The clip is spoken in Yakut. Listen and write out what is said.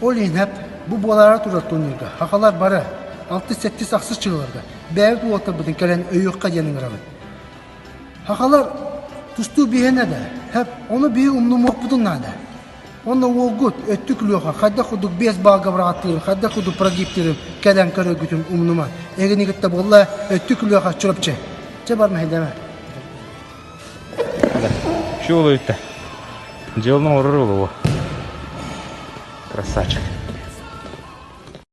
Ол иһинэп бу буолаары турар туннуйга хахалар бары алтыс-сэттис ахсыс чыыларга бэйэбит уолтарбытын кэлэн өйүөххэ диэн ыҥырабыт. Хахалар тустуу биһэнэ да, хэп ону биһи умнумуохпутун наада. Уонна уолгут өттүк күлүөхэ хайдах кудук биэс баалга быраҕаттыырын хайдах кудук прогиптирин кэлэн көрөргүтүн умнума. Эгини кытта буолла өттүк күлүөхэ Чурапчы. Чэ бар мэһэйдэмэ. Все улуйта. Дьыл оҥорор улугу. Красавчик.